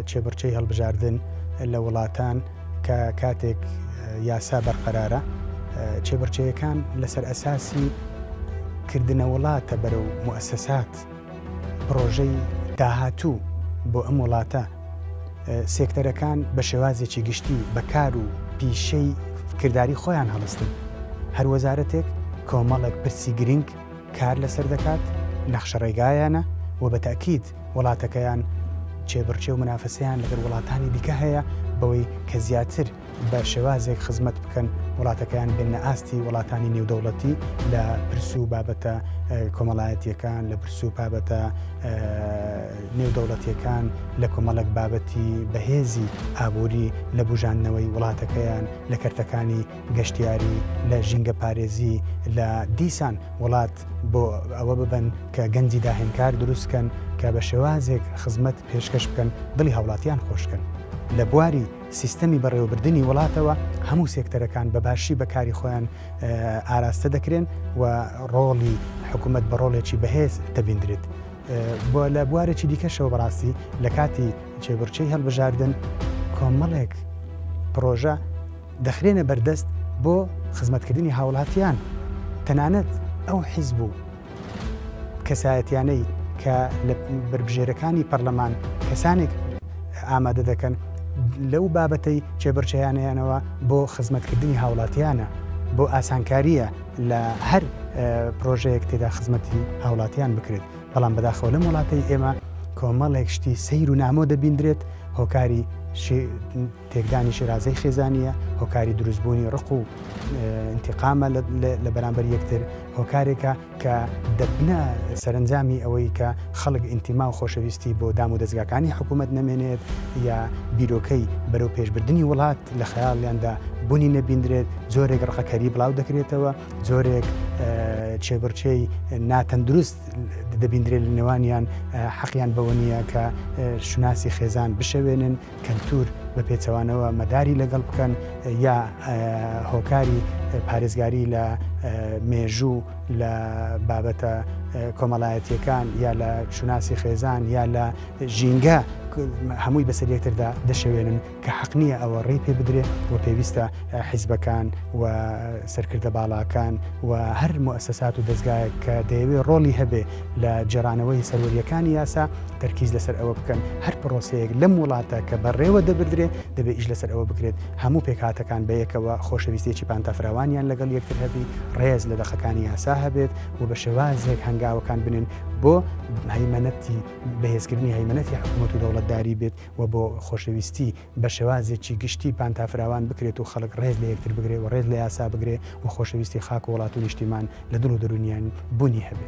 کێبڕکێی هەڵبژاردن لە وڵاتان کە کاتێک یاسا بەرقەرارە کێبڕکێیەکان لەسەر ئەساسی کردنە وڵاتە بەرەو موسەسات پرۆژەی داهاتوو بۆ ئەم وڵاتە سێکتەرەکان بە شێوازێکی گشتی بەکار و پیشەی کردداری خۆیان هەڵستن هەر وەزارەتێک کۆمەڵێک پرسی گرنگ کار لەسەر دەکات، نەخشە ڕێگایانە و بە تەئکید وڵاتەکەیان کێبڕکێ و منافەسەیان لەگەل وڵاتانی دیکە هەیە بەوەی کە زیاتر بە شێوازێک خزمەت بکەن وڵاتەکەیان بێننە ئاستی وڵاتانی نێودەوڵەتی لە پرس و بابەتە کۆمەڵایەتیەکان لە پرس و بابەتە نێودەوڵەتیەکان لە کۆمەڵک بابەتی بەهێزی ئابووری لە بوژاندنەوەی وڵاتەکەیان لە کەرتەکانی گەشتیاری لە ژینگەپارێزی لە دیسان وڵات بۆ ئەوە ببن کە گەنجی داهێنکار دروستکەن کە بە شێوازێک خزمەت پێشکەش بکەن دڵی هاوڵاتیان خۆشکەن لە بواری سیستەمی بەڕێوەبردنی وڵاتەوە هەموو سێکتەرەکان بە باشی بە کاری خۆیان ئاراستە دەکرێن و ڕۆڵی حکوومەت بە ڕۆڵێکی بەهێز دەبیندرێت بۆ لە بوارێکی دیکەشەوە بەڕاستی لە کاتی چێبڕچەی هەڵبژاردن کۆمەڵێک پرۆژە دەخرێنە بەردەست بۆ خزمەتکردنی هاوڵاتیان تەنانەت ئەو حیزب و کەسایەتیانەی کە لە بەربژێرەکانی پەرلەمان کەسانێک ئامادە دەکەن لەو بابەتەی چێبڕچەیانیانەوە بۆ خزمەتکردنی هاوڵاتیانە بۆ ئاسانکاریە لە هەر پرۆژەیەک تێدا خزمەتی هاوڵاتیان بکرێت بەڵام بەداخەوە لەم وڵاتەی ئێمە کۆمەڵێک شتی سیر و نامۆ دەبیندرێت هۆکاری تێکدانی شیرازەی خێزانییە، هۆکاری دروستبوونی ڕق و ئینتیقامە لە بەرامبەر یەکتر، هۆکارێکە کە دەبنە سەرەنجامی ئەوەی کە خەڵک ئینتیما و خۆشەویستی بۆ دام و دەزگاکانی حکوومەت نەمێنێت یا بیرۆکەی بەرەو پێشبردنی وڵات لە خەیاڵیاندا بوونی نەبیندرێت، جۆرێک ڕقەکەری بڵاو دەکرێتەوە، جۆرێک چێبڕچێی ناتەندروست دەبیندرێت لە نێوانیان، حەقیان بەوە نییە کە شوناسی خێزان بشەوێنن. کەلتور بە پێچەوانەوە مەداری لەگەڵ بکەن یا هۆکاری پارێزگاری لە مێژوو لە بابەتە کۆمەڵایەتیەکان یا لە شوناسی خێزان یا لە ژینگە هەمووی بەسەر یەکتردا دەشەوێنن کە حەقنیە ئەوە ڕێ پێ بدرێت و پێویستە حیزبەکان و سەرکردە باڵاکان و هەر موسەسات و دەستگایە کە دەیەوێت ڕۆڵی هەبێ لە گێڕانەوەی سەروەرییەکانی یاسا تەرکیز لەسەر ئەوە بکەن هەر پرۆسەیەک لەم وڵاتە کە بەڕێوە دەبردرێت دەبێت ئیش لەسەر ئەوە بکرێت هەموو پێکهاتەکان بەیەکەوە خۆشەویستێکی پانتا فراوانیان لەگەڵ یەکتر هەبی ڕێز لە دەقەکانی یاسا هەبێت و بە شێوازێک هەنگاوەکان بنێن بۆ هەیمەنەتی بەهێزکردنی هەیمەنەتی حکوومەت و دەوڵەتداری بێت و بۆ خۆشەویستی بە شێوازێکی گشتی پانتافراوان بکرێت و خەڵک ڕێز لە یەکتر بگرێ و ڕێز لە یاسا بگرێ و خۆشەویستی خاک و وڵات و نیشتیمان لە دڵ و دەروونیان بوونی هەبێ.